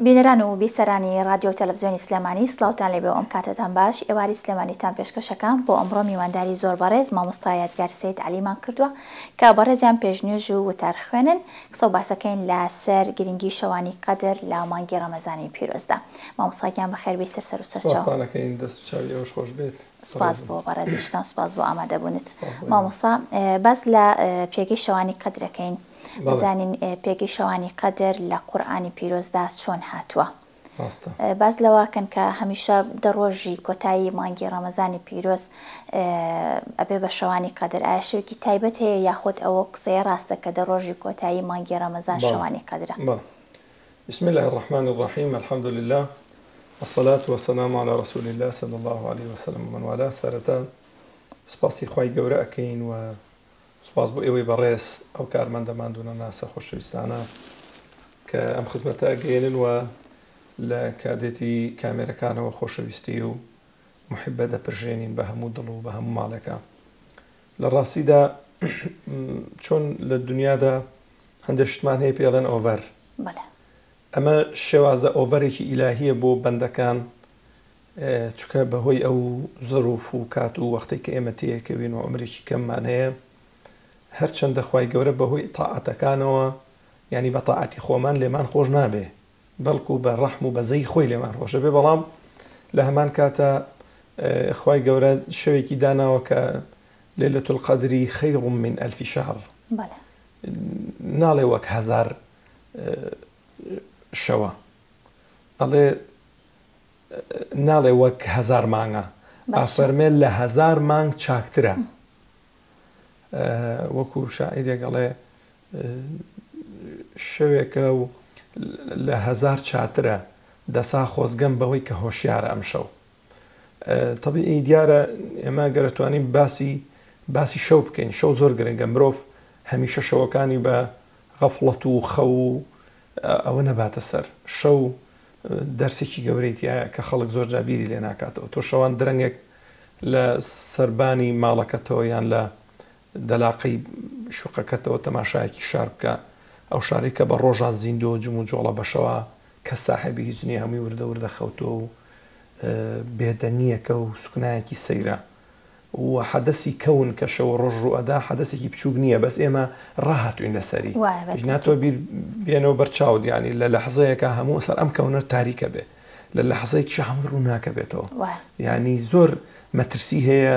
بینەران و بیسەرانی ڕادیۆ و تەلەفزیۆنی سلێمانی سڵاوتان لێبێ و ئەم کاتەتان باش، ئێواری سلێمانیتان پێشکەشەکەم، بۆ ئەمڕۆ میوانداری زۆر بەڕێز مامۆستا یادگار سەید عەلیمان کردووە کە بەڕێزیان پێش نوێژ و وتار خوێنن قسە و باسەکەین لە سەر گرنگی شەوانی قەدر لە مانگی ڕەمەزانی پیرۆزدا مامۆستا گیان بەخێربێی سەر سەر و سەرچاو. سوپاستان ئەکەین دەست و چاوی ئێوەش خۆش بێت. سوپاس بۆ بەڕێزیشتان سوپاس بۆ ئامادەبوونت مامۆسا باس لە پێگەی شەوانی قەدرەکەین بزانین پێگەی شەوانی قەدر لە قورآانی پیرۆزدا چۆن هاتووە باز لەواکەن کە هەمیشە دەڕۆژی کۆتایی مانگی ڕەمەزانی پیرۆز ئەبێ بە شەوانی قەدر ئایا شوێکی تایبەت هەیە یاخود ئەوە قسەیە ڕاستە کە دەڕۆژی کۆتایی مانگی ڕەمەزان شەوانی قەدرە بسم اللە الرحمن الرحیم الحمد للە الصلاة والسلام علی رسول اللە صلی اللە علیە وسلم ومن والاه سەرەتا سپاسی خوای گەورە ئەکەین و سپاس بۆ ئێوەی بەڕێز ئەو کارمەندە ماندوونە ناسە خۆشەویستانە کە ئەم خزمەتە ئەگەێنن و لە کادێتی کامێرەکانەوە خۆشەویستی و محبە دەپرژێنین بە هەموو دڵ و بە هەموو ماڵێکە لە ڕاستیدا چۆن لە دنیادا هەندێک شتمان هەیە پێڵێن ئۆڤەر ئەمە شێوازە ئۆڤەرێکی ئیلاهیە بۆ بەندەکان چکە بەهۆی ئەو زەروف و کات و وەختی کە ئێمە تەیەکەوین و ئەمریکی کەممان هەیە هەرچەندە خی گەورە بەهۆی تاعاتەکانەوە ینی بە تاعاتی خۆمان لێمان خۆش نابێ بەڵکو بە ڕەحم و بەزەی خۆی لێمان خۆش ئەبێ بەڵام لە هەمان کاتا خوای گەورە شەوێکی داناوە کە لەیلەت القەدری خیر من الف شهر بەڵێ ناڵێ وەک هەزار شەوە ئەڵێ ناڵێ وەک هەزار مانگە ئافەرمێ لە هەزار مانگ چاکترە وەکو شاعیرێکەڵێ شەوێکە و لە هەزار چاترە دەسا خۆزگەم بەوەی کە هۆشیارە ئەمشەو تەبیعی دیارە ئێمە گەر توانین باسی باسی شەو بکەین شەو زۆر گرنگە مرۆڤ هەمیشە شەوەکانی بە غەفڵەت و خەو و ئەوە نەباتە سەر شەو دەرسێکی گەورەی تایە کە خەڵک زۆر جابیری لێ ناکاتەوە تۆ شەوان درەنگێک لە سەربانی ماڵەکەتەوە یان لە دەلاقەی شوقەکەتەوە تەماشایەکی شار بکە، ئەو شارەی کە بە ڕۆژا زیندوو و جموجۆڵە بە شەوا کەس ساحێبی هیچ نییە هەمووی وردە وردە خەوتووە و بێدەنگییەکە و سوکنایەکی سەیرە و حەدەسی کەون کە شەو و ڕۆژ ڕوو ئەدا حەدەسێکی بچووک نییە بەس ئێمە ڕاهاتووین لە سەری وایە بە ئینا تۆ تاکید. بیر بێنەوە بەر چاوت یانی لە لەحزەیەکا هەموو ئەسەر ئەم کەونە تاریکە بێ لە لەحزەیەکیشا هەمووی ڕووناکە بێتەوە وایە. یانی زۆر مەترسی هەیە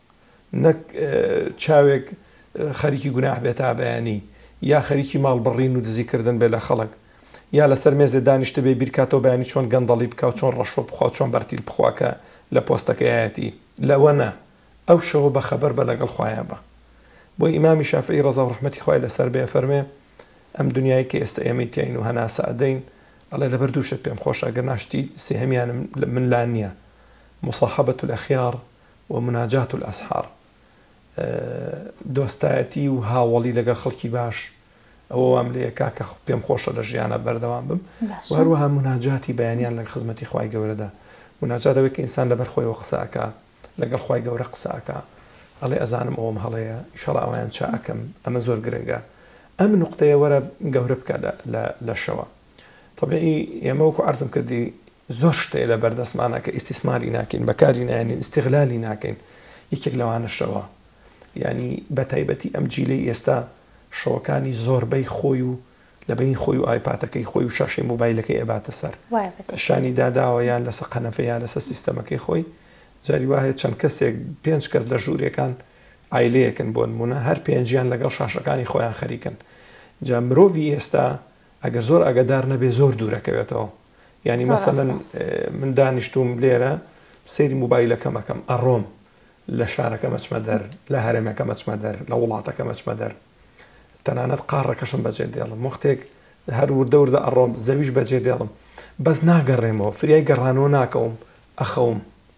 نەک چاوێک خەریکی گوناح بێ تا بەیانی یا خەریکی ماڵ بڕین و دزی کردن بێ لە خەڵک یا لەسەر مێزێ دانیشتبێ بیرکاتەوە بەیانی چۆن گەندەڵی بکا و چۆن ڕەشۆ بخوا و چۆن بەرتیل بخوا کە لە پۆستەکەیایەتی لەوەنە ئەو شەوە بە خەبەر بە لەگەڵ خوایە بە. بۆیە ئیمامی شافعی ڕەزا و ڕەحمەتی خوای لەسەر بێ ئەفەرمێ، ئەم دونیایەی کە ئێستە ئێمەی تیاین و هەناسە ئەدەین ئەڵێ لەبەر دوو شت پێم خۆشە ئەگەرنا شتی سێهەمیانم من لا نیە، مصاحبە الاخیار، و مناجات الاسحار دۆستایەتی و هاوەڵی لەگەڵ خەڵکی باش ئەوە وام لێ کاکە پێم خۆشە لە ژیانە بەردەوام بم هەروەها مناجاتی بەیانیان لە خزمەتی خی گەورەدا مناجاتەوەی کە ئینسان لەبەر خۆیەوە قسەکە لەگەڵ خی گەورە قسەکە ئەڵێ ئەزانم ئەوم هەڵەیە ئیشەڵا ئەویان چاکەم ئەمە زۆر گرنگە ئەم نقطەیە وەرە گەورە بکە لە شەوە طبعی ئێمە وەکو عرضم کردی زۆر شت هەیە لە بەردەستمانە کە ئیستیسماری ناکەین بەکاری نایەنین ئیستیغلالی ناکەین یەکێک لەوانە شەوە یانی بەتایبەتی ئەم جیلەی ئێستا شەوەکانی زۆربەی خۆی و لە بەین خۆی و ئایپاتەکەی خۆی و شاشەی موبایلەکەی ئەباتە سەر وایە بە تەئکید شانی داداوە یان لەسە قەنەفە یان لەسە سیستەمەکەی خۆی جاری وا هەیە چەند کەسێک پێنج کەس لە ژوورێکان عایلەیەکن بۆ نموونە هەر پێنجیان لەگەڵ شاشەکانی خۆیان خەریکن جا مرۆڤی ئێستا ئەگەر زۆر ئاگادار نەبێ زۆر دوورەکەوێتەوە یانی مەسەلەن من دانیشتووم لێرە سەیری موبایلەکەم ئەەکەم ئەڕۆم لە شارەکە مەچمە دەر لە هەرێمەکە مەچمە دەر لە وڵاتەکە مەچمە دەر تەنانەت قاڕەکەشم بەجێ دێڵم وەختێک هەر وردە وردە ئەڕۆم زەویش بەجێ دێڵم بەس ناگەڕێمەوە فریای گەڕانەوە ناکەوم ئەخەوم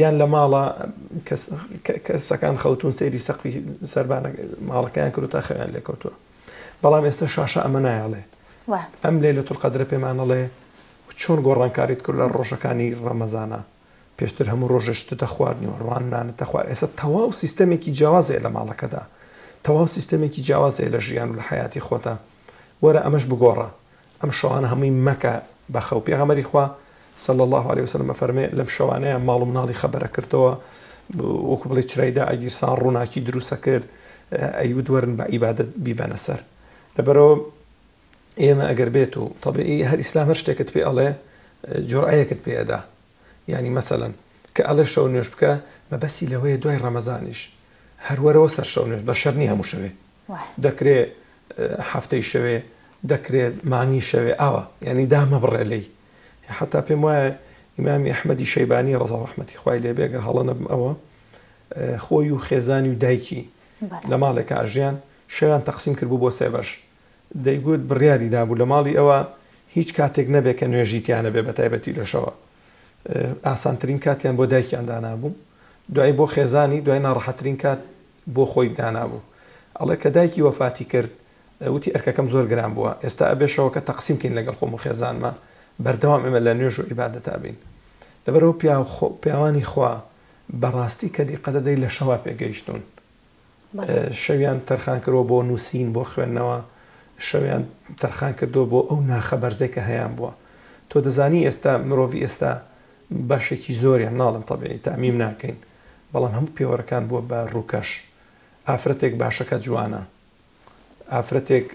یان لە ماڵە کەسەکان خەوتون سەیری سەقفی سەربانە ماڵەکەیان کردتا خەیان لێکەوتووە بەڵام ئێستا شاشە ئەمە نایڵێ ئەم لێ لە تورقەدرە پێمانەڵێ چۆن گۆڕانکاریت کرد لە ڕۆژەکانی ڕەمەزانە پێشتر هەموو ڕۆژێشتە دەخواردنی و ڕوانانە تەخوا ئێستا تەواو سیستەمێکی جیاوازەیە لە ماڵەکەدا تەواو سیستەمێکی جیاوازەیە لە ژیان و لە حیاتی خۆتا وەرە ئەمەش بگۆڕە ئەم شەوانە هەمووی مەکە بە خەو، پێغەمبەری خوا، صلی اللە علیە وسلم، ئەفەرمێ، لەم شەوانەیە ماڵ و مناڵی خەبەرە کردەوە، وەکو بڵێی چرای دا ئەگیرسان، ڕووناکی دروست ئەکرد، ئەیوت وەرن بە عیبادەت بیبەنە سەر. لەبەرئەوە ئێمە ئەگەر بێت و، تەبیعی هەر ئیسلام هەر شتێکت پێ ئەڵێ جورعەیەکت پێ ئەدا، یانی مەسەلەن کە ئەڵێ شەو نوێژ بکە مەبەسی لەوەیە دوای ڕەمەزانیش هەر وەرەوە سەر شەو نوێژ بە شەرنی هەموو شەوێ دەکرێ هەفتەی شەوێ دەکرێ مانگی شەوێ ئاوا یانی دامەبڕێ لی حتا پێم وایە ئیمامی ئەحمەدی شەیبانی ڕزا و ڕحمەتی خوای لێ بێ گەر هەڵە نەبم ئەوە خۆی و خێزانی و دایکی لە ماڵێکە ئەژیان شەویان تەقسیم کرد بوو بۆ سێ بەش دەیگوت بڕیاری دابوو لە ماڵی ئەوا هیچ کاتێک نەبێت کە نوێژی تیا نەبێت بە تایبەتی لە شەوە ئاسانترین کاتیان بۆ دایکیان دانابوو دوای بۆ خێزانی دوای ناڕەحەترین کات بۆ خۆی دانابوو ئەڵێ کە دایکی وەفاتی کرد وتی ئەرکەکەم زۆر گران بووە ئێستا ئەبێ شەوەکە تەقسیم کەین لەگەڵ خۆم و خێزانمە بەردەوام ئێمە لە نوێژ و عیبادەتا بین لەبەرئەوە پیاو پیاوانی خوا بەڕاستی کە دیقەتە دەی لە شەوا پێگەیشتوون. شەویان تەرخان کردوە بۆ نووسین بۆ خوێندنەوە شەویان تەرخان کردوە بۆ ئەو ناخە بەرزەی کە هەیان بووە تۆ دەزانی ئێستا مرۆڤی ئێستا بەشێکی زۆریان ناڵم تەبیعی تامیم ناکەین بەڵام هەموو پێوەرەکان بووە بە ڕووکەش ئافرەتێک باشەکە جوانە ئافرەتێک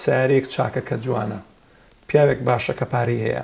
سارێک چاکەکە جوانە پیاوێک باشەکە پارەی هەیە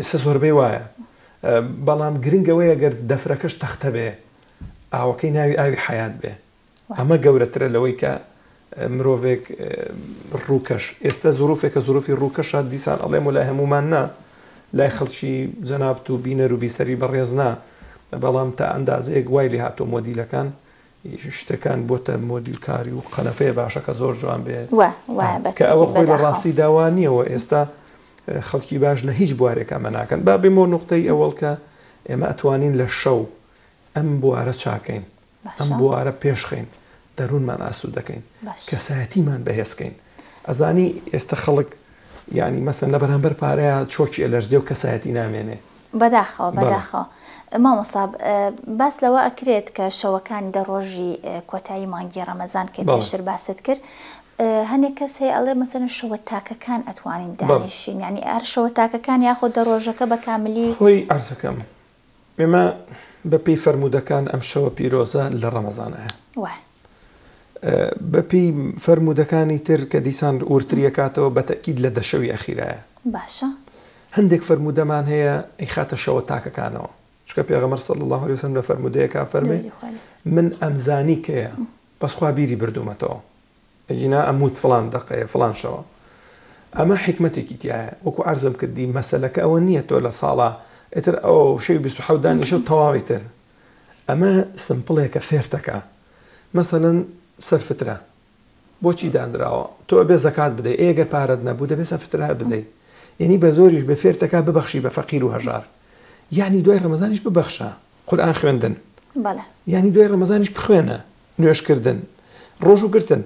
ئێستا زۆربەی وایە بەڵام گرنگ ئەوەیە گەر دەفرەکەش تەختە بێ ئاوەکەی ناوی ئاوی حەیات بێ ئەمە گەورەترە لەوەی کە مرۆڤێک ڕووکەش ئێستا زروفێکە زروفی ڕووکەشە دیسان ئەڵێم و لای هەمومان نا لای خەڵکی جەنابت و بینەر و بیسەری بەڕێزنا بەڵام تا ئەندازەیەک وای لێ هاتۆ مۆدیلەکان شتەکان بۆتە مۆدیل کاری و قەنەفەیە باشە کە زۆر جوان بێ وە وایە بە کە ئەوە خۆی لە ڕاستی داوانیەوە ئێستا خەڵکی باش لە هیچ بوارێک ئەمە ناکەن با بێمۆ نقطەی ئەوەڵ کە ئێمە ئەتوانین لە شەو ئەم بوارە چاکەین ئەم بوارە پێشخین دەروونمان ئاسو دەکەین کەسایەتیمان بەهێزکەین ئەزانی ئێستا خەڵک ینی مەسن لە بەرامبەر پارەیە چۆکی ئەلەرزێ و کەسایەتی نامێنێ بەداخەوە بەداخەوە مامۆسا باس لەوە ئەکرێت کە شەوەکانی دە ڕۆژی کۆتایی مانگی ڕەمەزان کە پێشتر باست کرد هەنێک کەس هەیە ئەڵێ مەسەن شەوە تاکەکان ئەتوانین دانیشین ینی ئەر شەوە تاکەکان یاخۆ دە ڕۆژەکە بە کاملی خۆی ئەرزەکەم ئێمە بەپی فەرمودەکان ئەم شەوە پیرۆزە لە ڕەمەزانە بە پێی فەرموودەکانی تر کە دیسان وردتری ئەکاتەوە بە تەئکید لە دە شەوی ئەخیرایە. باشە. هەندێک فەرموودەمان هەیە ئەیخاتە شەوە تاکەکانەوە. چونکە پێغەمبەر صلی اللە علیە و سلم لە فەرموودەیەکا فەرمووی، دروودی خوای لەسەر بێت. من ئەمزانی کەیە بەس خوا بیری بردوومەتەوە. ئەگینا ئەمووت فڵان دەقەیە فڵان شەوە. ئەمە حیکمەتێکی تیایە. وەکو عەرزم کردی مەسەلەکە ئەوە نییە تۆ لە ساڵا ئیتر ئەو شەوی بیست و حەوت دانیشە و تەواوی تر. ئەمە سمپڵێکە فێرتەکە مەسەلەن سەر فترە بۆچی دانراوە تۆ ئەبێ زەکات بدەی ئەی گەر پارەت نەبوو دەبێ سەر فترە بدەی یەنی بە زۆریش بێ فێرتەکە ببەخشی بە فەقیر و هەژار یەعنی دوای ڕەمەزانیش ببەخشە قورئان خوێندن یەعنی دوای ڕەمەزانیش بخوێنە نوێژ کردن ڕۆژوو گرتن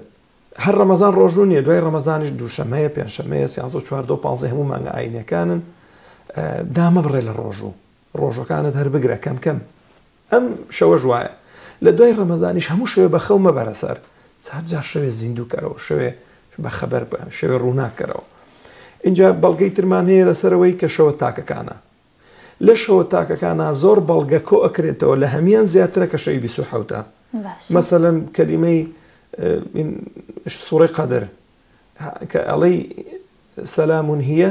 هەر ڕەمەزان ڕۆژوو نیە دوای ڕەمەزانیش دووشەمەیە پێنجشەمەیە سیانزە و چواردە و پانزەی هەموو مانگە ئاینیەکانن دامەبڕێ لە ڕۆژوو ڕۆژەکانت هەر بگرە کەم کەم ئەم شەوەش وایە لە دوای ڕەمەزانیش هەموو شەوێ بە خەو مەبەرە سەر چار جار شەوێ زیندوو کەرەوە شەوێ بە خەبەر بە شەوێ ڕووناک کەرەوە ئینجا بەڵگەی ترمان هەیە لەسەرەوەی کە شەوە تاکەکانە لە شەوە تاکەکانە زۆر بەڵگە کۆ ئەکرێتەوە لە هەمیان زیاترە کە شەوی بیست و حەوتە مەسەلەن کەلیمەی سوڕی قەدر کە ئەڵەی سەلامون هیە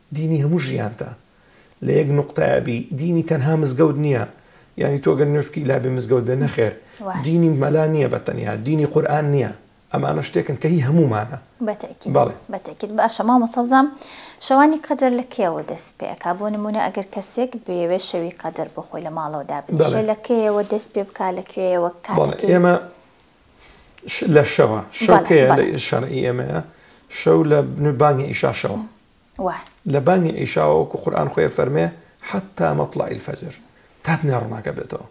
دینی هەموو ژیانتە لە یەک نوقتەیا بی دینی تەنها مزگەوت نیە یانی تۆ گەر نوێژ بکەی لابێ مزگەوت بێ نەخێر دینی مەلا نیە بە تەنیا دینی قورئان نیە ئەمانە شتێکن کە هی هەموومانە. بە تەئکید بەڵێ. بە تەئکید باشە مامۆستا بزانم شەوانی قەدر لە کەیەوە دەست پێ ئەکا بۆ نموونە ئەگەر کەسێک بیەوێ شەوی قەدر بۆ خۆی لە ماڵەوە دابنیشێ بەڵێ لە کەیەوە دەست پێ بکا لە کوێیەوە بەڵێ کاتەکەی ئێمە ش لە شەوە شەو بەڵێ کەیە بەڵێ لە شەرعی ئێمەیە شەو لە بانگی عیشا شەوە. وە. لە بانگی عیشاوە وەکو قورئان خۆی ئەفەرمێ، حتی مطلع الفجر، تا دنیا ڕوناک ئەبێتەوە.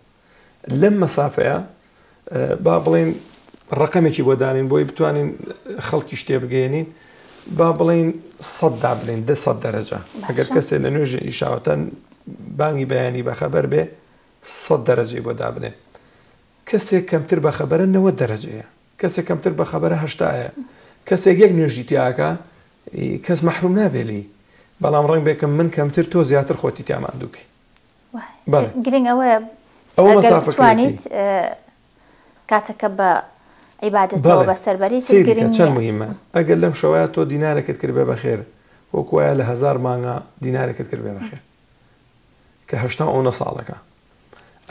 لەم مەسافەیە با بڵێین ڕەقەمێکی بۆ دانێین بۆی بتوانین خەڵکیش تێ بگەیەنین، با بڵێین سەد دابنێین، دە سەد دەرەجە. ئەگەر کەسێ لە نوێژی عیشاوە تا بانگی بەیانی بەخەبەر بێ، سەد دەرەجەی بۆ دابنێ. کەسێ کەمتر بەخەبەرە نەوەد دەرەجەیە. کەسێک کەمتر بەخەبەرە هەشتا یە کەسێک یەک نوێژی تیاکا کەس مەحروم نابێ لێی بەڵام ڕەنگ بێ کە من کەمتر تۆ زیاتر خۆتی تیا ماندوو کەی بەڵێ گرنگ ئەوەیە ئەوە ئەگەر مەسافە بتوانیت کەیەتی ئێ کاتەکە بە عیبادەتەوە بەڵێ بەسەر بەری چ سەیری کە گرنگ چەند نییە موهیمە ئەگەر لەم شەوەیا تۆ دینارێکت کرد بێ بەخێر وەکو وایە لە هەزار مانگا دینارێکت کرد بێ بەخێر کە هەشتا و ئەونە ساڵەکە.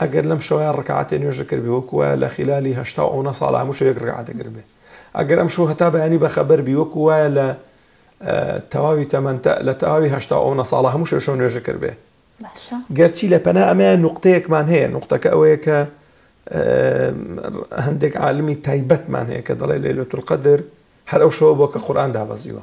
ئەگەر لەم شەوەیا ڕکاتێ نوێژە کردبێ وەکو وایە لە خیلالی هەشتا و ئەونە ساڵە هەموو شەوێک ڕکاتێ کردبێ ئەگەر ئەم شەو هەتا بەیانی بەخەبەر بی وەکو وایە لە تەواوی تەمەن لە تەواوی هەشتا و ئەونە ساڵە هەموو شەو شەو نوێژە کردبێ گەرچی لە پەنا ئەمەیە نوقتەیەکمان هەیە نوقتەکە ئەوەیە کە هەندێک عالمی تایبەتمان هەیە کە دەڵێ لەیلەتولقەدر هەر ئەو شەوە بووە کە قورئان دابەزیوە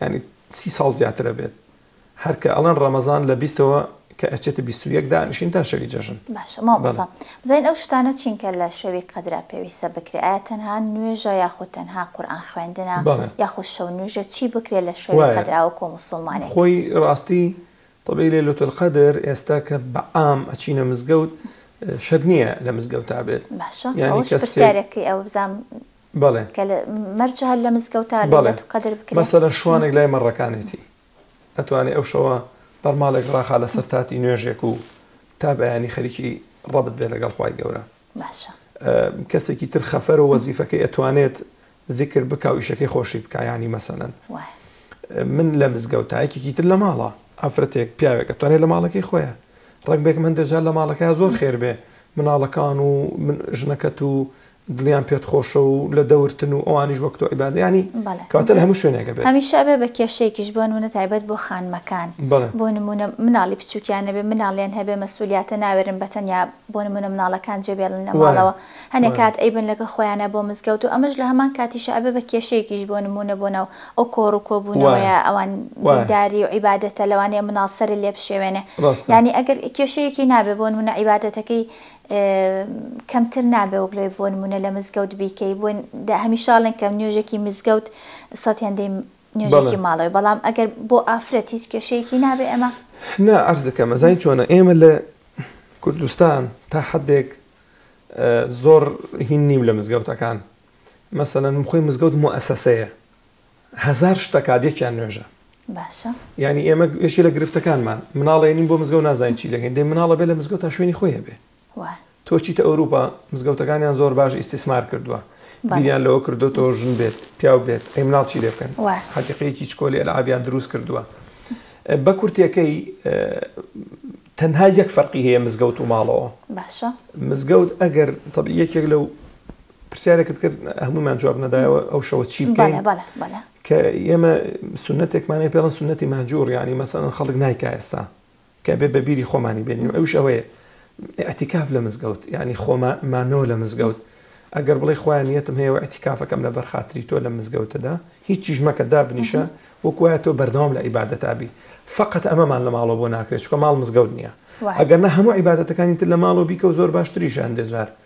یانی سی ساڵ زیاتر ئەبێت هەر کە ئەڵێن ڕەمەزان لە بیستەوە کە ئەچێتە بیست و یەک دانیشین تا شەوی جەژن باشە مامۆستا بزانین ئەو شتانە چین کە لە شەوی قەدرا پێویستە بکرێ ئایا تەنها نوێژە یاخود تەنها قورئان خوێندنە یاخود شەونوێژە چی بکرێ لە شەوی قەدرا وەکو موسڵمانێک خۆی ڕاستی تەبەی لەیلەتە القەدر ئێستا کە بە عام ئەچینە مزگەوت شەرت نییە لە مزگەوتا بێت باشە یانی کەس پرسیارێکی ئەو بزانم بەڵێ. کە لە مەرج هەر لە مزگەوتا بەڵێ لەیلەتو قەدر بکرێ؟ مەسەلەن شوانێک لای مەڕەکانێتی ئەتوانێ ئەو شەوە بەرماڵێک ڕاخا لەسەر تاتی نوێژێک و تا بەیانی خەریکی ڕەبت بێ لەگەڵ خوای گەورە. باشە. کەسێکی تر خەفەرو وەزیفەکەی ئەتوانێت زیکر بکا و ئیشەکەی خۆشی بکا یانی مەسەلەن وایە. من لە مزگەوتا یەکێکی تر لە ماڵە ئافرەتێک پیاوێک ئەتوانێ لە ماڵەکەی خۆیە ڕەنگ بێکم هەندێ جار لە ماڵەکەیا زۆر خێر بێ مناڵەکان و من ژنەکەت و دڵیان پێت خۆشە و لە دەورتن و ئەوانیش وەک تۆ عیبادە یانی بەڵێ کەواتە لە هەموو شوێنێکە بێت هەمیشە ئەبێ بە کێشەیەکیش بۆ نموونە تایبەت بۆ خانمەکان بەڵێ بۆ نموونە مناڵی بچووکیان نەبێ مناڵیان هەبێ مەسئولیاتە ناوێرن بە تەنیا بۆ نموونە مناڵەکان جێ بێڵن لە وایە ماڵەوە هەنێ وایە کات ئەیبەن لەگەڵ خۆیانا بۆ مزگەوت و ئەمەش لە هەمان کاتیشا ئەبێ بە کێشەیەکیش بۆ نموونە بۆ ناو ئەو کۆڕ و وایە کۆبوونەوەیە ئەوان وایە دینداری و عیبادەتە لەوانەیە مناڵ سەرت لێ بشێوێنێ ڕاستە یانی ئەگەر کێشەیەکی نابێ بۆ نموونە عیبادەتەکەی کەمتر نابێ وەک لەوەی بۆ نموونە لە مزگەوت بیکەی بۆ هەمیشە ئەڵێن کە نوێژێکی مزگەوت سەد هێندەی نوێژێکی بەڵێ ماڵەوەی بەڵام ئەگەر بۆ ئافرەت هیچ کێشەیەکی نابێ ئەمە نا عەرزەکەمە زانی چۆنە ئێمە لە کوردستان تا حەدێک زۆر هین نیم لە مزگەوتەکان مەسەلەن خۆی مزگەوت موئەسەسەیە هەزار شت ئەکات یەکیان نوێژە. باشە. یانی ئێمە یەکێ لە گرفتەکانمان مناڵ ئەیەنین بۆ مزگەوت نازانین چی دەکەین، دەی مناڵە بێ لە مزگەوت تا شوێنی خۆی هەبێ. وا. تۆ چیتە ئەوروپا مزگەوتەکانیان زۆر باش ئیستیسمار کردووە. بەڵێ. بیریان لەوە کردووە تۆ ژن بێت پیاو بێت ئەی مناڵ چی لێ بکەن. وا. حەدیقەیەکی چکۆلی ئەلعابیان دروست کردووە. بە کورتێکەی تەنها یەک فەرقی هەیە مزگەوت و ماڵەوە. باشە. مزگەوت ئەگەر تەبعی یەکێک لەو. پرسیارێکت کرد هەمومان جواب نەدایەوە ئەو شەوە چی بکەین کە ئێمە سنتێکمانەی پێڵن سنەتی مەجوور ینی مەسەن خەڵک نایکایستا کە بێ بەبیری خۆمانی بێنین ئەوش ئەوەیە ئەتیکاف لە مزگەوت ینی خۆمە مانۆ لە مزگەوت ئەگەر بڵی خۆیان نیەتم هەیە ئەتیکافەکەم لە بەرخاتری تۆ لە مزگەوتەدا هیچ چیش مەکە دابنیشە وەکوایە تۆ بەردەوام لە عیباەتابی فقط ئەمەمان لە ماڵەوە بۆ ناکرێت چکە ماڵ مزگەوت نییە ئەگەر نە هەموو عیباەتەکانی تر لە ماڵەوە بیکە و زۆر باشتریشان دەجار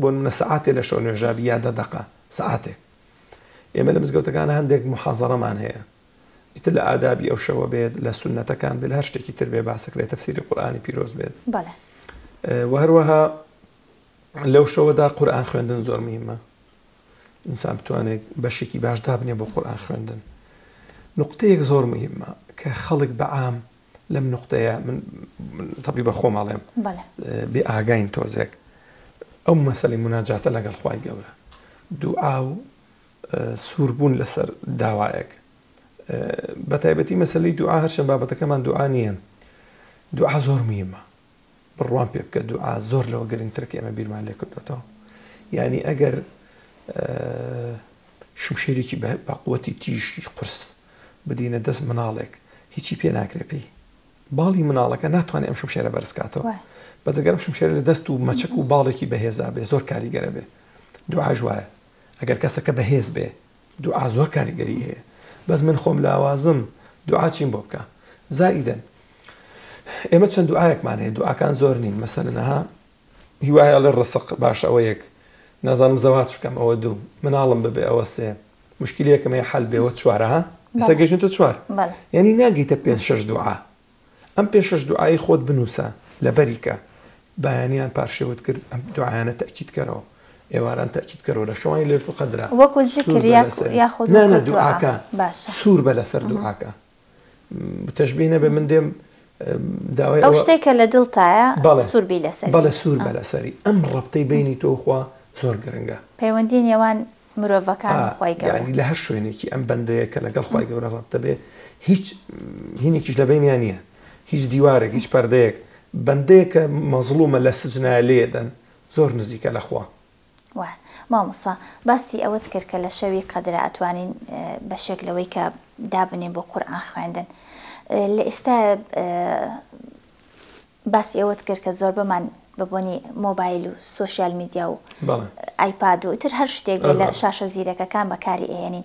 بۆ نمونە سەعاتێ لە شەو نوێژابی یا دە دەقە سەعاتێک ئێمە لە مزگەوتەکان هەندێک محازەڕەمان هەیە ئیتر لە ئادابی ئەو شەوە بێت لە سنەتەکان بێت هەر شتێکی تر بێ باسەک لێ تەفسیری قورآانی پیرۆز بێت بەڵێ وهروەها لەو شەوەدا قورآان خوێندن زۆر مهمە ئینسان بتوانێت بەشێکی باش دابنێ بۆ قورآان خوێندن نقطەیەک زۆر مهمە کە خەڵک بەعام لەم نقطەیە من تەبی بە خۆم ئەڵێم بێ ئاگاین تۆزێک ئەو مەسلی مناجاتە لەگەڵ خی گەورە دوو ئاو سووربوون لەسەر داوایەک بە تایبەتی مەسلی دوعا هەرچەند بابەتەکەمان دوعاانیان دوعا زۆر میمە بڕوام پێ بکە دوعا زۆر لەوە گرنگترە کە ئێمە بیرمان لێ کردوێتەوە یعنی ئەگەر شمشێرێکی بەقوەتی تیژی قرس بدینە دەست مناڵێک هیچی پێ ناکرێ پێی باڵی مناڵەکە ناتوانێت ئەم شمشێرە بەرزکاتەوە بەزەگەرم شمشێرە لە دەست و مەچەک و باڵێکی بەهێزا بێ زۆر کاریگەرە بێ دوعاژ وایە ئەگەر کەسەکە بەهێز بێ دوعا زۆر کاریگەری هەیە بەس من خۆم لاوازم دوعا چیم بۆ بکە زائیدەن ئێمە چەند دوعاەکمان هەیە دوعاکان زۆر نین مەسەنەها هیوایە لە ڕسق باش ئەوە یەک نازانم زەواج بکەم ئەوە دوو مناڵم ببێ ئەوە سێ مشکلەکەم هەیە حل بێەوە چوارەها ئێستا گەشتە چوار ینی ناگەیتە پێ شش دوعا ئەم پێشەش دوعای خۆت بنووسە لەبەری کە، بەیانیان پارشێوت کرد ئەم دوعایانە تەئکید کەرەوە، ئێواران تەئکید کەرەوە لە شەوانی لەیلەتول قەدرا وەکو زیکر سوور بە یاک لەسەری یاخود نا نا وەکو دوعا دوعاکە باشە سوور بە لەسەر مهم. دوعاکە م، تەشبیه نەبێ من دێم م، داوای ئەو ئەوە شتەی کە لە دڵتایە بەڵێ سوور بی لەسەری بەڵێ سوور بە آه. لەسەری ئەم ڕەبتەی بەینی تۆ و خوا زۆر گرنگە. پەیوەندی نێوان مرۆڤەکان و خوای گەورە. ئا یانی لە هەر شوێنێکی ئەم بەندەیە کە لەگەڵ خوای گەورە ڕەت دەبێ هیچ هینێکیش لە بەینیا نیە هیچ دیوارێک هیچ پەردەیەک بەندەیەک کە مەزڵومە لە سجنایە لێ دەن زۆر نزیکە لە خوا. وە مامۆستا باسی ئەوەت کرد کە لە شەوی قەدرا ئەتوانین بەشێک لەوەی کە دابنێین بۆ قورئان خوێندن لە ئێستایە باسی ئەوەت کرد کە زۆربەمان بە بۆنی مۆبایل و سۆشیال میدیا و ئایپاد و ئیتر هەر شتێک بێت لە شاشە زیرەکەکان بەکاری ئەهێنین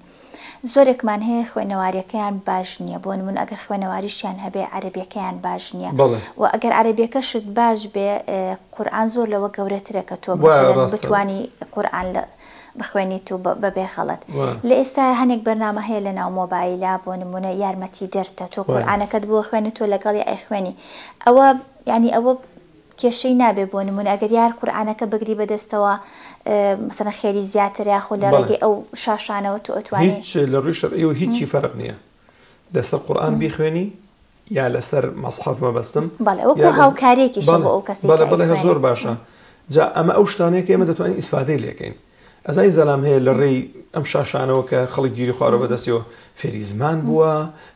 زۆرێکمان هەیە خوێنەواریەکەیان باش نییە بۆ نمونە ئەگەر خوێنەواریشیان هەبێ عەربیەکەیان باش نییە بەڵێ و ئەگەر عەربیەکە شت باش بێ ئه، قورئان زۆر لەوە گەورەترە کە تۆ وایە مثلا ڕاستە بتوانی قورئان لە بخوێنیت و بە بەبێ خەڵەت وا. لە ئێستایا هەنێک بەرنامە هەیە لە ناو مۆبایلا بۆ نموونە یارمەتی دەرتە تۆ بەڵێ. قورئانەکەت بۆ خوێنێ تۆ لەگەڵی ئەیخوێنی ئەوە یانی ئەوە کێشەی نابێ بۆ نموونە ئەگەر یار قورئانەکە بگری بە دەستەوە اه مەسەلەن خێری زیاترە یاخۆ لە بەڵێ. ڕێگەی ئەو شاشانەوە تۆ ئەتوانی. هیچ لە ڕووی شەرعیەوە هیچی فەرق نیە لەسەر قورئان بیخوێنی یا لەسەر مەسحەف مەبەستم بەڵێ وەکو هاوکاریەکیشە بۆ ئەو کەسی بەڵێ کە بەڵێ هە ئەیخوێنێ. زۆر باشە جا ئەمە ئەو شتانەیە کە ئێمە دەتوانین ئیسفادەی لێکەین ئەزانی زەلام هەیە لە ڕێی ئەم شاشانەوە کە خەڵک گیری خوارەوە بەدەستیەوە فێری زمان بووە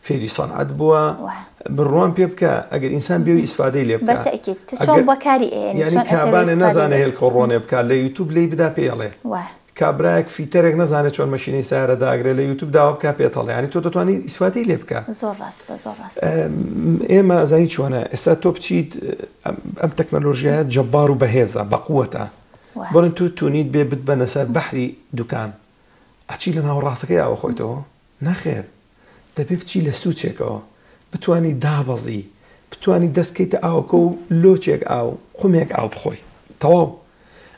فێری سەنعەت بووە وە. بڕوام پێ بکە ئەگەر ئینسان بێوی ئیسفادەی لێ بکا بەتەئکید تە چۆن ئەگەر- بەکاری ئەیەنی یانی چۆن ئەتەوێ کابانێ ئیسفادەی نازانێ لێ هێلکە ڕۆنێ بکا لە یوتوب لێی بدا پێی ئەڵێ وە. کابرایەک فیتەرێک نەزانێ چۆن مەشینەی سەیارە داگرێ لە یوتوب داوا بکە پێت ئەڵێ یانی تۆ دەتوانی ئیسفادەی لێ بکە زۆر ڕاستە زۆر ڕاستە ئێمە ئەزانی چۆنە ئێستا تۆ بچیت ئەم تەکنەلۆژیایە جەبار و بەهێزە بەقوەتە وایە بڵێن تو تونیت بێ بتبەنە سەر بەحری دوکان ئەچی لە ناوەڕاستەکەی ئاوە خۆیتەوە نەخێر دەبێ بچی لە سوچێکەوە بتوانی دابەزی بتوانی دەست کەیتە ئاوەکە و لۆچێک ئاو قومێک ئاو بخۆی تەواو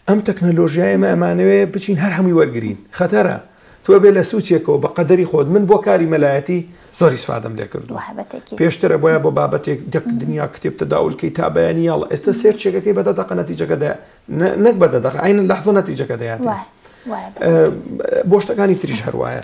ئەم تەکنەلۆژیایە ئێمە ئەمانەوێ بچین هەر هەمووی وەرگرین خەتەرە تۆ بێ لە سوچێکەوە بە قەدەری خۆت من بۆ کاری مەلایەتی زۆر ئیسفادەم لێ کردووە بابەتێکی پێشترە بۆیە بۆ بابەتێک دەک دنیا کتێب تەداول کەی تا بەیانی یاڵڵا ئێستا سێرچێکەکەی بە دە دەقە نەتیجەکە دە نە نەک بە دە دەقە عەینە لەحزە نەتیجەکە دەیاتێ وایە وایە بەتاکید. بۆ شتەکانی تریش هەر وایە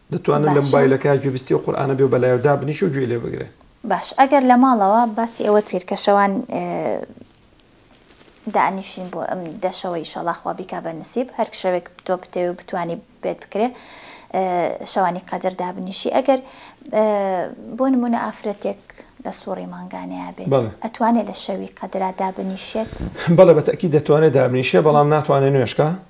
دەتوانن لە مبایلەکەیا گوێبیستی ئەو قورئانە بێ و بەلایەوە دابنیشێ و گوێی لێ بگرێ. باش ئەگەر لە ماڵەوە باسی ئەوەت کرد کە شەوان دانیشین بۆ ئەم دە شەوە ئیشەڵا خوا بیکا بە نسیب هەر شەوێک تۆ بتەوێ و بتانی بێت بکرێ شەوانی قەدر دابنیشی ئەگەر بۆ نمونە ئافرەتێک لە سوڕی مانگانەیە بێت ئەتوانێت لە شەوی قەدرا دابنیشێت بەڵێ بە تەکی دەتوانێت دابنیشێ بەڵام ناتوانێت نوێشکە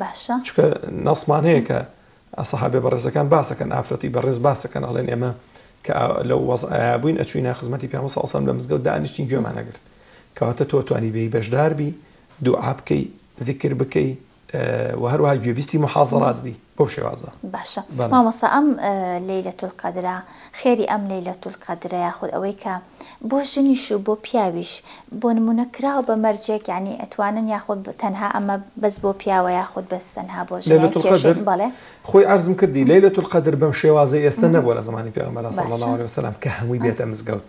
باشە. چونکە نەسمان هەیە کە سەحابە بەڕێزەکان باسەکەن ئافرەتی بەڕێز باسەکەن ئەڵێن ئێمە کە لە وەزعیا بووین ئەچوینە خزمەتی پێ سەسم لە مزگەوت دانیشتین گوێمانەگرت کەواتە تۆ توانی بێی بەشداربی دوعا بکەی ذکر بکەی و هەروها گوێبیستی محازڕات بی بەو شێوازە باشە مامەسا ئەم لەیلە تولقادرا خێری ئەم لەیلەتو القەدرە یاخود ئەوەی کە بۆ ژنیش و بۆ پیاویش بۆ نمونە کراوە بە مەرجێک یانی ئەتوانن یاخود تەنها ئەمە بەس بۆ پیاوە یاخود بەس تەنها بۆ ژنە لەیلەتو کێشەی القەدر بەڵێ خۆی عەرزم کردی لەیلەتو القەدر بەم شێوازەی ئێستە نەبوە لە زەمانی پێغەمبەرا صلی باشە اللە علیە وسلم کە هەموی ئەه بێتە مزگەوت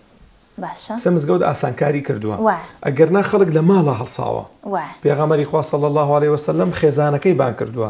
باشە کەسە مزگەوت ئاسانکاری کردوە وایە ئەگەر نا خەڵک لە ماڵا هەڵساوە وایە پێغەمبەری خوا صلی اللە علیە وسلم خێزانەکەی بانگ کردوە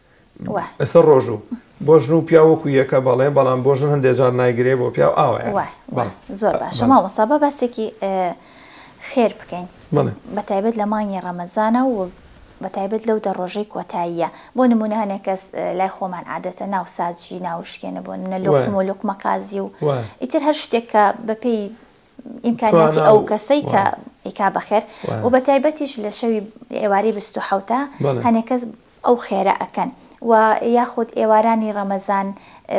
وە. ئێستا ڕۆژوو بۆ ژن و پیاو وەکو یەکە بەڵێ بەڵام بۆ ژن هەندێ جار نایگرێ بۆ پیاو ئاوا یە. وە وە زۆر باشە مامۆستا با باسێکی خێر بکەین بە تایبەت لە مانگی ڕەمەزانە و بە تایبەت لەو دە ڕۆژەی کۆتاییە بۆ نمونە هەنێ کەس لای خۆمان عادەتە ناو ساجی ناوشکێنە بۆ نە لۆقم و لوقمە قازی و ئیتر هەر شتێک کە بەپێی ئیمکانیاتی ئەو کەسەی کە ئیکا بەخێر و بە تایبەتیش لە شەوی ئێوارەی بیست و حەوتە هەنێ کەس ئەو خێرە ئەکەن و یاخود ئێوارانی ڕەمەزان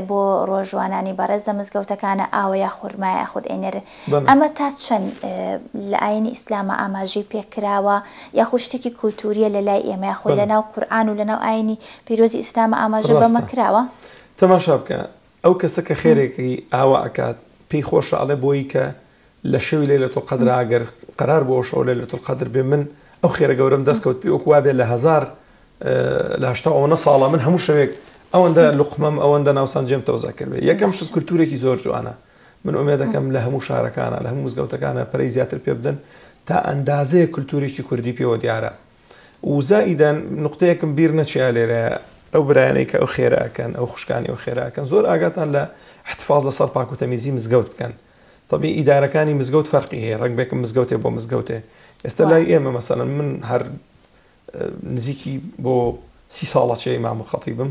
بۆ ڕۆژوانانی بەڕێز لە مزگەوتەکانە ئاوە یا خورما یاخود ئەینێرن ئەمە تا چەند لە ئاینی ئیسلامە ئاماژەی پێ کراوە یاخود شتێکی کولتووریە لە لای ئێمە یاخود لەناو قورئان و لەناو ئاینی پیرۆزی ئیسلامە ئاماژە بەمە کراوە؟ تەماشا بکە ئەو کەسە کە خێرێکی ئاوا ئەکات پێی خۆشە ئەڵێ بۆیی کە لە شەوی لەیلەت القەدرا گەر قەرار بوو ئەو شەوە لەیلەت القەدر بێ من ئەو خێرە گەورەم دەست کەوت پێی وەکو وابێ لە هەزار لە هەشتا و ئەوەنە ساڵە من هەموو شەوێک ئەوەندە لوقمەم ئەوەندە ناوسان جێم تەوزە کردبێ یەکەم شت کولتوورێکی زۆر جوانە من ئومێدەکەم لە هەموو شارەکانە لە هەموو مزگەوتەکانە پەرەی زیاتر پێ بدەن تا ئەندازەیەک کولتوورێکی کوردی پێوە دیارە. و زائیدەن نوقتەیەکم بیر نەچیا لێرەیە ئەو برایانەی کە ئەو خێرە ئەکەن ئەو خوشکانی ئەو خێرا ئەکەن زۆر ئاگاتان لە احتفاظ لە سەر پاک و تەمیزی مزگەوت بکەن طبی ئیدارەکانی مزگەوت فەرقی هەیە ڕەنگ بێکم مزگەوتێ بۆ مزگەوتێ ئێستا لای ئێمە مەسەلەن من هەر نزیکی بۆ سی ساڵە چێ ئیمام و خەتیبم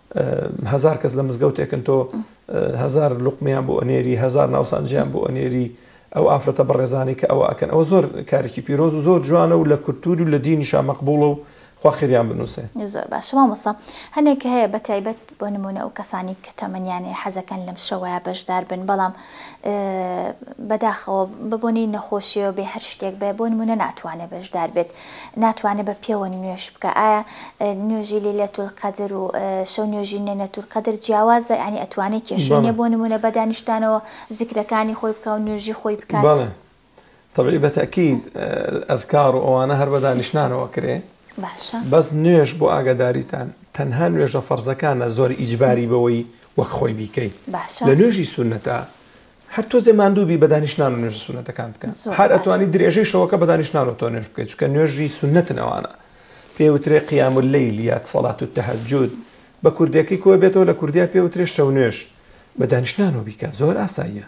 هەزار کەس لە مزگەوتێکن تۆ هەزار لوقمیان بۆ ئەنێری هەزار ناوسانجیان بۆ ئەنێری ئەو ئافرەتە بەڕێزانانی کە ئەوە ئەکەن ئەوە زۆر کارێکی پیرۆز و زۆر جوانە و لە کولتووری و لە دینی شامەقبوڵە و خواخریان بنووسێ زۆر باش مامۆسا هەنێک هەیە بە تایبەت بۆ نمونە ئەو کەسانی کە تەمەنیانەیە حەزەکەن لەم شەوەیە بەشدار بن بەڵام بەداخەوە بە بۆنەی نەخۆشیەوە بێ هەر شتێک بێ بۆ نمونە ناتوانێت بەشدار بێت ناتوانێت بە پێوە نوێش بکە ئایا نوێژی لێ لە تول قەدر و شەو نوێژی نێنە تول قەدر جیاوازە ینی ئەتوانێت کێشێنێ بۆ نمونە بە دانیشتانەوە زیکرەکانی خۆی بکە و نوێژی خۆی بکات. تەبعی بە تەئکید ئەذکار و ئەوانە هەر بە دانیشتنانەوە کرێ باشە بەس نوێژ بۆ ئاگاداریتان تەنها نوێژە فەرزەکانە زۆر ئیجباری بەوەی وەک خۆی بیکەی باشە لە نوێژی سونەتە هەر تۆزێ ماندووبی بە دانیشتنان و نوێژە سونەتەکان بکە زۆر هەر باش. ئەتوانی درێژەی شەوەکە بە دانیشتنان و تۆ نوێژ بکەیت چکە نوێژی سونەتن ئەوانە پێ وترێ قیام و لەیل یات سەلات و تەهەجود بە کوردەکەی کۆ بێتەوە لە کوردیا پێ وترێ شەو نوێژ بە دانیشتنانەوە بیکە زۆر ئاساییە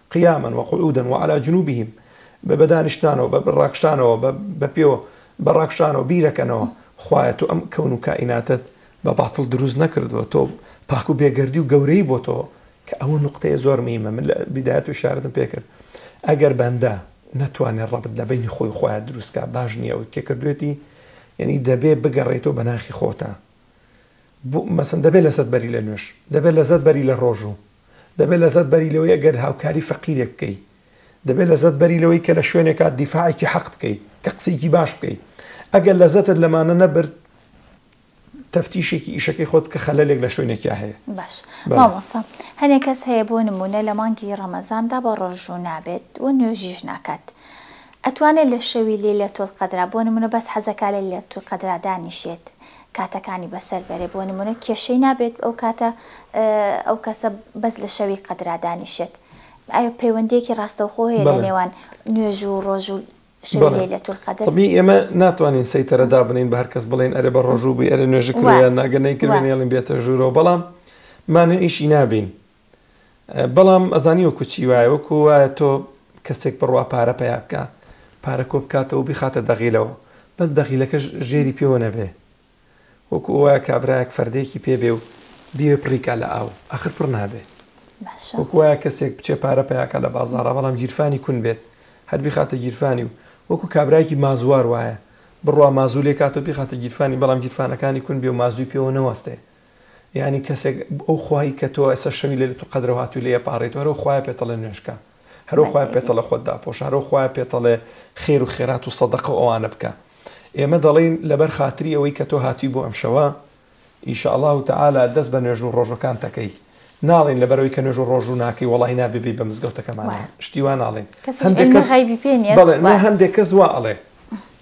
قیاما وقعودا وعلی جنوبهم بە بەدانیشتنانەوە بە ڕاکشانەوە بە بە پێ بە ڕاکشانەوە بیرەکەنەوە خوایە تۆ ئەم کەون و کائیناتەت بە باتڵ دروست نەکردووە تۆ پاک و بێگەردی و گەورەی بۆ تۆ کە ئەوە نوقتەیە زۆر میمە من لە بدایەت و شارەتم پێکرد ئەگەر بەندە نەتوانێت ڕەبت لە بینی خۆی خۆیان دروستکە باش نییە ئەوەی کە کردوێتی یعنی دەبێ بگەڕێتەوە بە ناخی خۆتە بۆ مەسن دەبێت لەسەت بەری لە نوێش دەبێت لەزەت بەری لە ڕۆژوو دەبێت لەزەت بەری لەوەی ئەگەر هاوکاری فەقیرێک بکەی دەبێت لەزەت بەری لەوەی کە لە شوێنێکا دیفاعێکی حەق بکەی کە قسەیەکی باش بکەی ئەگەر لەزەتت لەمانە نەبرد تەفتیشێکی ئیشەکەی خۆت بکە خەلەلێک لە شوێنێکیا هەیە. باش بەڵێ. مامۆستا هەنێ کەس هەیە بۆ نموونە لە مانگی ڕەمەزاندا بە ڕۆژوو نابێت و نوێژیش ناکات ئەتوانێت لە شەوی لەیلەتولقەدرا بۆ نموونە بەس حەزەکا لەیلەتولقەدرا دانیشێت کاتەکانی بەسەر بەرێ بۆ نمونە کێشەی نابێت ئەو کاتە ئەو کەسە بەس لە شەوی قەدرا دانیشێت ئایا پەیوەندیەکی ڕاستەوخۆ هەیە لە نێوان نوێژ و ڕۆژ و شەوی لەیلەتول قەدر طبی ئێمە ناتوانین سەیتەرە دابنێین بە هەر کەس بڵێین ئەرێ بە ڕۆژوو بی ئەرێ نوێژی کردوە یان نا گەر نەیکردبێ نێڵین بێتە ژوورەوە بەڵام مانعیشی نابین. بەڵام ئەزانی وەکو چی وایە وەکو وایە تۆ کەسێک بڕوا پارە پیا بکە پارە کۆ بکاتەوە بیخاتە دەغیلەوە بەس دەغیلەکە ژێری پێوە نەبێ وەکو وایە کابراایەک فەردێکی پێ بێ و بیێ پڕیکا لە ئاو ئەخر پڕ نابێت وەکو وایە کەسێک بچێ پارە پیاکە لە بازارە بەڵام گیرفانی کون بێت هەر بیخاتە گیرفانی و وەکو کابراایکی مازوار وایە بڕوا مازوو لێ کات و بیخاتە گیرفانی بەڵام گیرفانەکانی کون بێ و مازووی پێوە نەوەستێ یانی کەسێک ئەو خوای کە تۆ ئێستا شەوی لەیلە تو قەدرە هاتوی لێ ئەپاڕێی تۆ هەرەو خوایە پێتەڵێ نوێژکە هەرەو خوایە پێتەڵێ خۆت داپۆشە هەرەو خوایە پێتەڵێ خێر و خێرات و سەدەقە و ئەوانە بکە ئێمە دەڵێین لەبەر خاتری ئەوەی کە تۆ هاتوی بۆ ئەم شەوە ئیشەڵا و تەعالا دەست بە نوێژ و ڕۆژوەکان تەکەی ناڵێین لەبەر ئەوەی کە نوێژ و ڕۆژو ناکەی وەڵای نابێ بێی بە مزگەوتەکەمانەوە شتی وا ناڵێین هەندێک کەس غەیبی پێ نیە بەڵێ وا هەندێک کەس وا ئەڵێ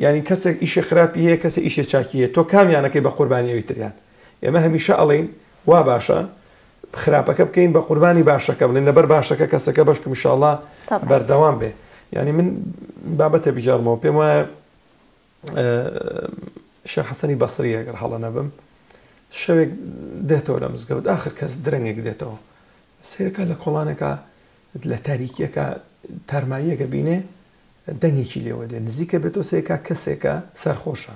یانی کەسێک ئیشێ خراپی هەیە کەسێ ئیشێ چاکی هەیە تۆ کامیانەکەی بە قوربانی ئەوی تریان ئێمە هەمیشە ئەڵێین وا باشە خراپەکە بکەین بە قوربانی باشەکە بڵێن لەبەر باشەکە کەسەکە بەشکم شاڵا بەردەوام بێ ینی من بابەتە بجارمەوە پێم وایە شە حەسەنی بەسری ئەگەر هەڵە نەبم شەوێک دێتەوە لە مزگەوت آخر کەس درەنگێک دێتەوە سیرەکە لە کۆڵانەکە لە تاریکیەکە تارماییەکە بینێ دەنگێکی لێوە دێ نزیکە بێتۆ سێکا کەسێکە سەرخۆشە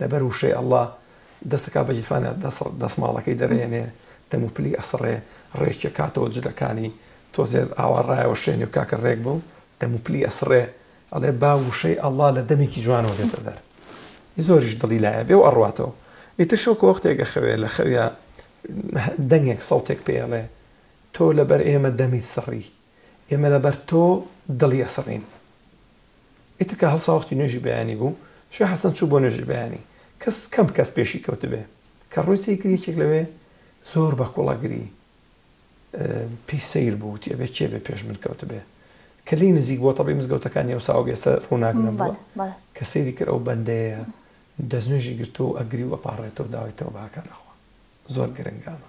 لەبەر وشەی اللە دەستەکات بە گیرفانە دەسماڵەکەی دەرەهێنێ دەمو پلی ئەسڕێ ڕێکی ئەکاتەوە جلەکانی تۆزێ ئاوا ڕایەوەشێنێ و کاکە ڕێک بم دەمو پلی ئەسڕێ ئەڵێ با وشەی اللە لە دەمێکی جوانەوە بێتە دەر ی زۆریش دڵی لایە بێ و ئەڕواتەوە ئیتر شەوکە وەختێک ئەخەوێ لە خەویا دەنگێک سەوتێک پێی ئەڵێ تۆ لەبەر ئێمە دەمیت سڕی ئێمە لەبەر تۆ دڵی ئەسڕین. ئیتر کە هەڵسا وەختی نوێژی بەیانی بوو، شێخ حەسەن چوو بۆ نوێژی بەیانی. کەس کەم کەس پێشی کەوتبێ. کە ڕووی سەیر کرد یەکێک لەوێ زۆر بە کوڵەگری پێی سەیر بوو وتی ئەبێ کێ بێ پێش من کەوتبێ. کە لێی نزیک بووە تەبعی مزگەوتەکانی ئەو ساوەگ ئێستا ڕووناک نەبووە، کە سەیری کرد ئەو بەندەیە دەستنوێژی گرتووە و ئەگری و ئەپاڕێتەوە داوای تەوبە ئەکا لەخوا. زۆر گرنگە ئەمە.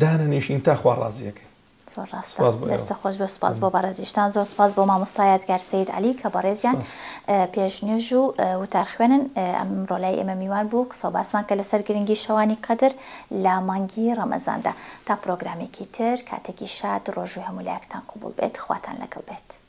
دانەنیشین تا خوا ڕازیەکەی. زۆر ڕاستە دەستە خۆش بێ سوپاس بۆ بەڕێزیشتان زۆر سوپاس بۆ مامۆستا یادگار سید علی کە بەڕێزیان پێش نوێژ و وتار خوێنن ئەمڕۆ لای ئێمە میوان بوو قسە باسمان کە لەسەر گرنگی شەوانی قەدر لە مانگی ڕەمەزاندا تا پرۆگرامێکی تر کاتێکی شاد ڕۆژوی هەموو لایەکتان قوبوڵ بێت خواتان لەگەڵ بێت.